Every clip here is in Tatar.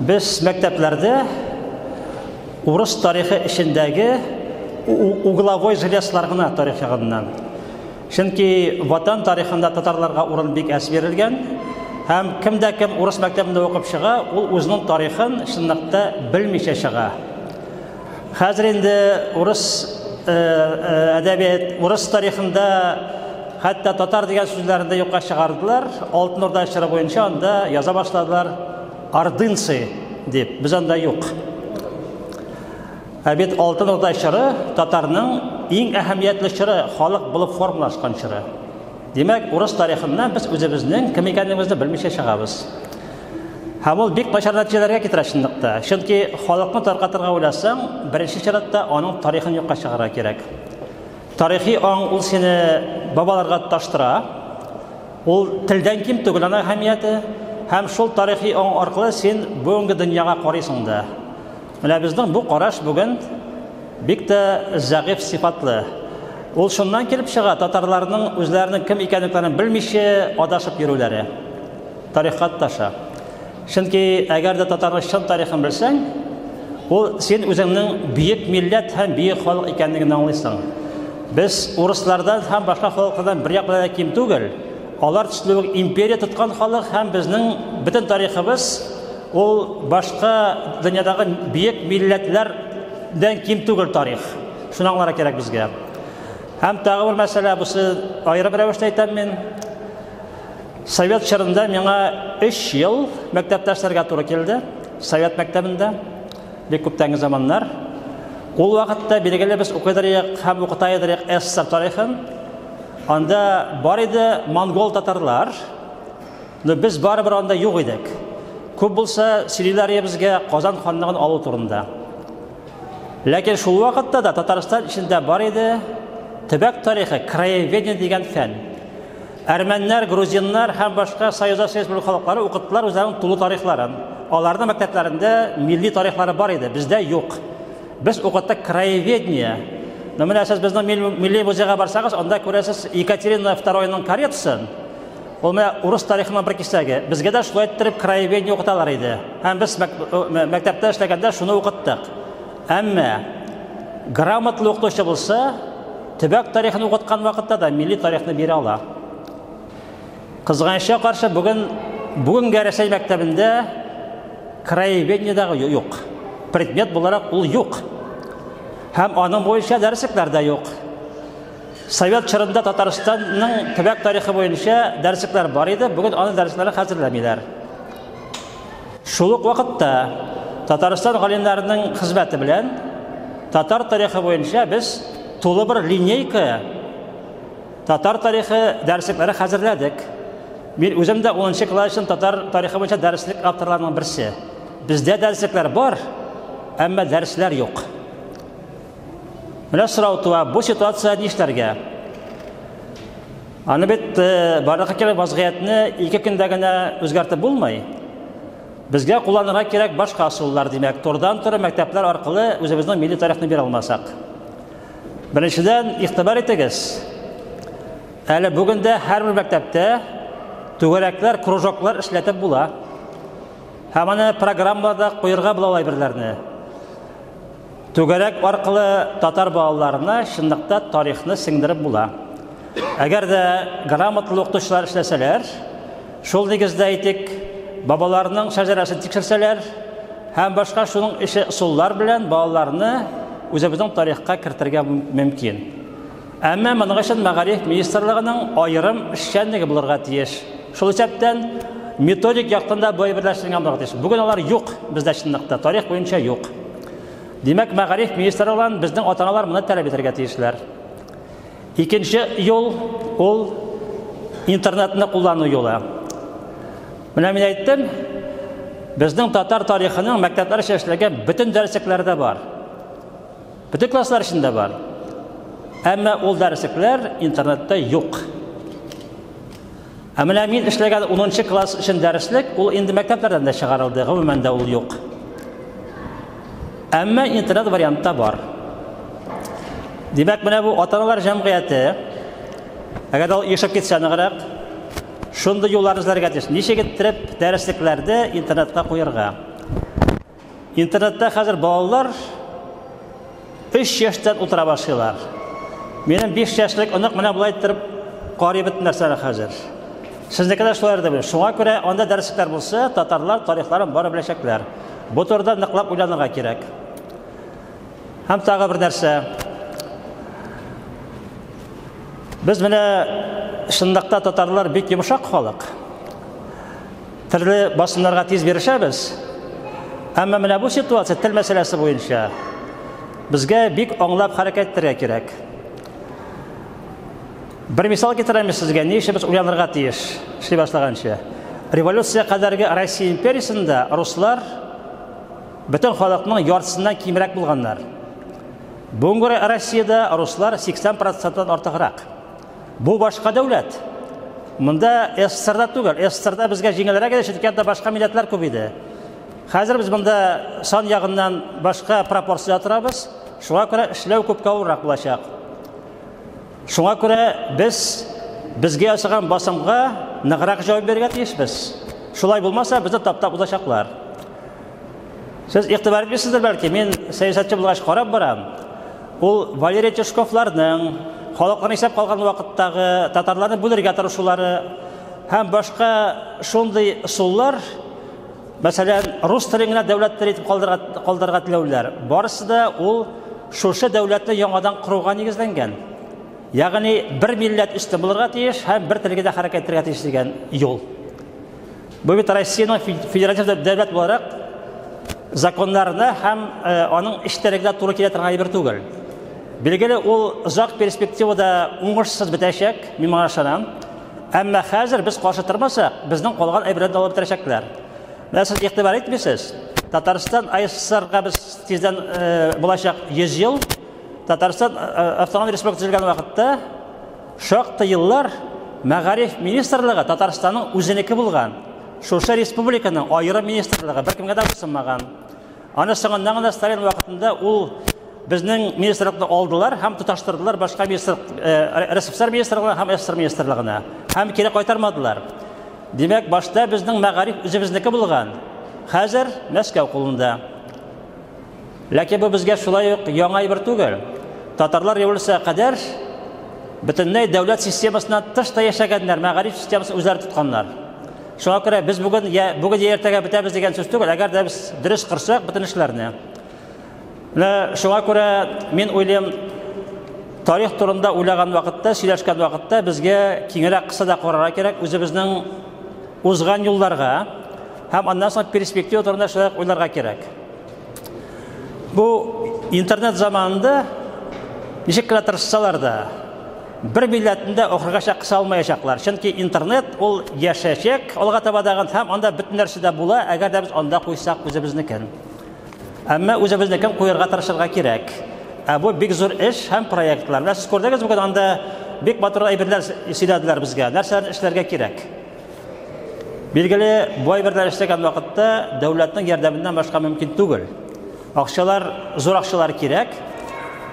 Без мәктәпләрдә урыс тарихы эчендәге угловой железлар гына тарих ягыннан. Чөнки Ватан тарихында татарларга урын бик әз бирелгән. Һәм кем дә кем урыс мәктәбендә укып чыга, ул үзенең тарихын чынлыкта белмичә чыга. Хәзер инде урыс э, э, әдәбият, урыс тарихында хәтта татар дигән сүзләрне дә юкка чыгардылар. Алтын Урда чоры буенча анда яза башладылар Ордынцы дип, без анда юк. Ә бит Алтын Урда чоры татарның иң әһәмиятле чоры, халык булып формалашкан чоры. Димәк, урыс тарихыннан без үзебезнең кем икәнлегебезне белмичә чыгабыз. Һәм ул бик начар нәтиҗәләргә китерә чынлыкта. Чөнки халыкны таркатырга уйласаң, беренче чиратта аның тарихын юкка чыгарырга кирәк. Тарихи аң ул сине бабаларга таштыра, Ул телдән ким түгел аны әһәмияте, һәм шул тарихи оң аркылы син бүгенге дөньяга карыйсың да. Менә безнең бу караш бүген бик тә зәгыйфь сыйфатлы. Ул шуннан килеп чыга, татарларның үзләренең кем икәнлекләрен белмичә адашып йөрүләре. Тарихка тоташа. Чөнки әгәр дә татарның чын тарихын белсәң, ул син үзеңнең бөек милләт һәм бөек халык икәнлеген аңлыйсың. Без урыслардан һәм башка халыклардан бер як белән ким түгел. Алар төсле үк империя тоткан халык һәм безнең бөтен тарихыбыз ул башка дөньядагы бөек милләтләрдән ким түгел тарих. Шуны аңларга кирәк безгә. Һәм тагы бер мәсьәлә, бусы аерым рәвештә әйтәм мин. Совет чорында миңа 3 ел мәктәптә эшләргә туры килде. Совет мәктәбендә бик күптәнге заманнар. Ул вакытта билгеле без укыдыр идек һәм укыта идек СССР тарихын. Анда бар иде монгол татарлар. Но без барыбер анда юк идек. Күп булса сөйлиләр безгә Казан ханлыгын алу турында. Ләкин шул вакытта да Татарстан эчендә бар иде төбәк тарихы, краеведение дигән фән. Әрмәннәр, грузиннар һәм башка Союзда Союз бүлек халыклары укыттылар үзләренең тулы тарихларын. Аларның мәктәпләрендә милли тарихлары бар иде, бездә юк. Без укыттык краеведение. Но менә сез безнең милли музейга барсагыз, анда күрәсез Екатерина II-ның каретасын. Ул менә урыс тарихының бер кисәге. Безгә дә шулай иттереп краеведение укыталар иде. Һәм без мәктәптә эшләгәндә шуны укыттык. Әмма грамотлы укытучы булса, төбәк тарихын укыткан вакытта да милли тарихны бирә ала. Кызганычка каршы бүген бүгенге Рәсәй мәктәбендә краеведение дагы юк. Предмет буларак ул юк. Һәм аның буенча дәреслекләр дә юк. Совет чорында Татарстанның төбәк тарихы буенча дәреслекләр бар иде, бүген аның дәресләре хәзерләмиләр. Шул ук вакытта Татарстан галимнәренең хезмәте белән татар тарихы буенча без тулы бер линейка татар тарихы дәреслекләре хәзерләдек. Мин үзем дә 10 нчы класстан татар тарихы буенча дәреслек авторларының берсе. Бездә дәреслекләр бар, әмма дәресләр юк. Менә сорау туа, бу ситуация нишләргә? Аны бит э, барлыкка кирәк вазгыятьне ике көндә генә үзгәртеп булмый. Безгә кулланырга кирәк башка асуллар, димәк, тордан торы мәктәпләр аркылы үзебезнең милли тарихны бирә алмасак. Беренчедән, игътибар итегез. Әле бүген дә һәрбер мәктәптә түгәрәкләр, кружоклар эшләтеп була. Һәм аны программада куерга була алай берләрне. Түгәрәк аркылы татар балаларына чынлыкта тарихны сеңдереп була. Әгәр дә грамотлы укытучылар эшләсәләр, шул нигездә әйтик, бабаларның шәҗәрәсен тикшерсәләр һәм башка шуның ише ысуллар белән балаларны үзебезнең тарихка кертергә мөмкин. Әмма моның өчен мәгариф министрлыгының аерым эшчәнлеге булырга тиеш. Шул исәптән методик яктан да бай берләштерелгән булырга тиеш. Бүген алар юк, бездә чынлыкта тарих буенча юк. Димәк, мәгариф министры белән безнең ата-аналар моны таләп итәргә тиешләр. Икенче юл ул интернетны куллану юлы. Менә мин әйттем, безнең татар тарихының мәктәпләр өчен эшләгән бөтен дәреслекләрдә бар. Бөтен класслар эчендә бар. Әмма ул дәреслекләр интернетта юк. Ә менә мин эшләгән 10 класс өчен дәреслек, ул инде мәктәпләрдән дә чыгарылды, гомумән дә ул юк. Әмма интернет вариантта бар. Димәк, менә бу ата-аналар җәмгыяте, әгәр ул ешып китсә ныграк, шундый юллар эзләргә тиеш. Ничек иттереп дәреслекләрне интернетка куярга? Интернетта хәзер балалар 3 яшьтән утыра башлыйлар. Минем 5 яшьлек онык менә болай торып карый бит нәрсәне хәзер. Сезнеке дә шулай дип. Шуңа күрә анда дәресләр булса, татарлар тарихларын бары беләчәкләр. Бу турыда ныклап уйланырга кирәк. Һәм тагы бер нәрсә. Без менә шундыйда татарлар бик йомшак халык. Төрле басымнарга тиз бирешәбез. Әмма менә бу ситуация тел мәсьәләсе буенча безгә бик аңлап хәрәкәт итәргә кирәк. Бер мисал китерәм сезгә, ни өчен без уйланырга тиеш, эшли башлаганча. Революция кадәрге Россия империясендә руслар бөтен халыкның яртысыннан кимрәк булганнар. Бүгенге Россиядә руслар 80 проценттан артыграк. Бу башка дәүләт. Монда СССРда түгел. СССРда безгә җиңелрәк иде, чөнки анда башка милләтләр күп иде. Хәзер без монда сан ягыннан башка пропорцияда торабыз. Шуңа күрә эшләү күпкә авыррак булачак. Шуңа күрә без безгә ясаган басымга ныграк җавап бирергә тиешбез. Шулай булмаса, безне таптап узачаклар. Сез игътибар итмисездер бәлки, мин сәясәтче булгач карап барам. Ул Валерий Тишковларның халыкларны исәп калган вакыттагы татарларны бүлергә тырышулары һәм башка шундый суллар, мәсәлән, рус телен генә дәүләт теле итеп калдырырга теләүләр, барысы да ул шушы дәүләтне яңадан коруга нигезләнгән. Ягъни бер милләт өстен булырга тиеш һәм бер телгә дә хәрәкәт итәргә тиеш дигән юл. Бу бит Россиянең федератив дәүләт буларак законнарына һәм э, аның эчтәлегенә туры килә торган әйбер түгел. Билгеле, ул озак перспективада уңышсыз бетәчәк, мин моңа ышанам. Әмма хәзер без каршы тормасак, безнең калган әйберләр дә алып бетерәчәкләр. Менә сез игътибар итмисез, Татарстан АССРга без тиздән э, булачак 100 ел. Татарстан э, автономия республикасы төзелгән вакытта Шактый еллар Мәгариф министрлыгы Татарстанның үзенеке булган. Шушы республиканың аерым министрлыгы беркемгә дә буйсынмаган. Аны соңыннан гына Сталин вакытында ул безнең министрлыкны алдылар һәм тоташтырдылар башка министр РСФСР министрлыгына һәм СССР министрлыгына һәм кире кайтармадылар. Димәк, башта безнең мәгариф үзебезнеке булган. Хәзер Мәскәү кулында. Ләкин бу безгә шулай ук яңа әйбер түгел. Татарлар революциягә кадәр бөтенләй дәүләт системасыннан тыш та яшәгәннәр, мәгариф системасын үзләре тотканнар. Шуңа күрә без бүген я бүген я иртәгә бетәбез дигән сүз түгел, әгәр дә без дөрес кырсак бөтен эшләрне. Менә шуңа күрә мин уйлыйм, тарих турында уйлаган вакытта, сөйләшкән вакытта безгә киңрәк кысада карарга кирәк, үзебезнең узган юлларга һәм аннан соң перспектива турында шулай уйларга кирәк. Бу интернет заманында ничек кенә тырышсалар да, бер милләтендә охырга чакыса алмаячаклар. Чөнки интернет ул яшәчәк алга таба дагын һәм анда бөтен нәрсә дә була, әгәр дә без анда куйсак үзебезнекен. Әмма үзебезнекен куярга тырышырга кирәк. Ә бу бик зур эш һәм проектлар. Менә сез күрдегез бүген анда бик матур әйберләр сөйләделәр безгә. Нәрсәләрне эшләргә кирәк? Билгеле, бу әйберләр эшләгән вакытта дәүләтнең ярдәменнән башка мөмкин түгел. Акчалар, зур акчалар кирәк.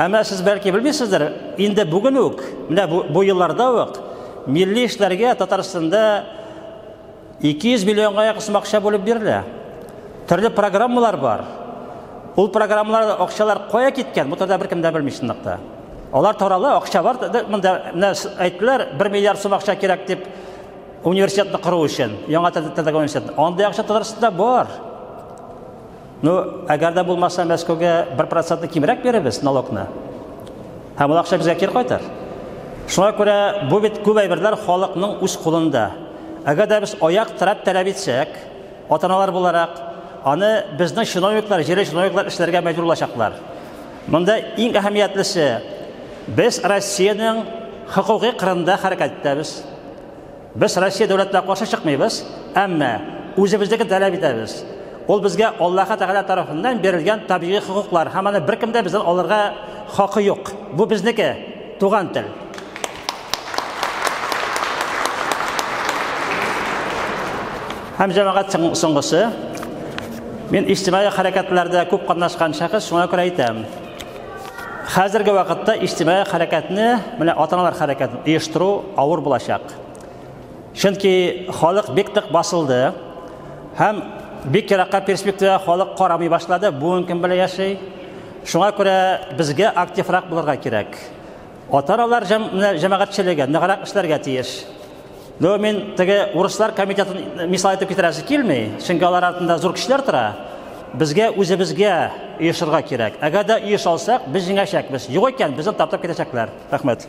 Әмма сез бәлки белмисездер, инде бүген үк, менә бу, бу елларда ук милли эшләргә Татарстанда 200 миллионга якын сум акча бүлеп бирелә. Төрле программалар бар. Ул программаларда акчалар кая киткән, бу турыда беркем дә белми чынлыкта. Алар тарала, акча бар, монда әйттеләр, 1 миллиард сум акча кирәк дип Университетны кору өчен, яңа тәтәгә университет. Андый акча Татарстанда бар. Ну, әгәр дә булмаса, Мәскәүгә 1% кимрәк бирәбез налогны. Һәм ул акча безгә кир кайтар. Шуңа күрә бу бит күп әйберләр халыкның үз кулында. Әгәр дә без аяк терәп таләп итсәк, атаналар буларак, аны безнең чиновниклар, җирле чиновниклар эшләргә мәҗбүр булачаклар. Монда иң әһәмиятлесе, без Россиянең хокукый кырында хәрәкәт итәбез. Без Россия дәүләтенә каршы чыкмыйбыз, әмма үзебезнекен таләп итәбез. Ул безгә Аллаһ Тәгалә тарафыннан бирелгән табигый хокуклар, һәм аны беркем дә бездән алырга хакы юк. Бу безнеке. Туган тел. Һәм җәмәгать соңгысы. Мин иҗтимагый хәрәкәтләрдә күп катнашкан шәхес, шуңа күрә әйтәм. Хәзерге вакытта иҗтимагый хәрәкәтне, менә атаналар хәрәкәтен оештыру авыр булачак. Чөнки халык бик тык басылды һәм бик еракка перспектива халык карамый башлады, бүген кем белән яши. Шуңа күрә безгә активрак булырга кирәк. Ата-аналар җәмәгатьчелеге ныграк эшләргә тиеш. Ну, мин теге урыслар комитетын мисал итеп китерәсе килми, чөнки алар артында зур көчләр тора. Безгә үзебезгә оешырга кирәк. Әгәр дә оешалсак, без җиңәчәкбез. Юк икән, безне таптап китәчәкләр. Рәхмәт.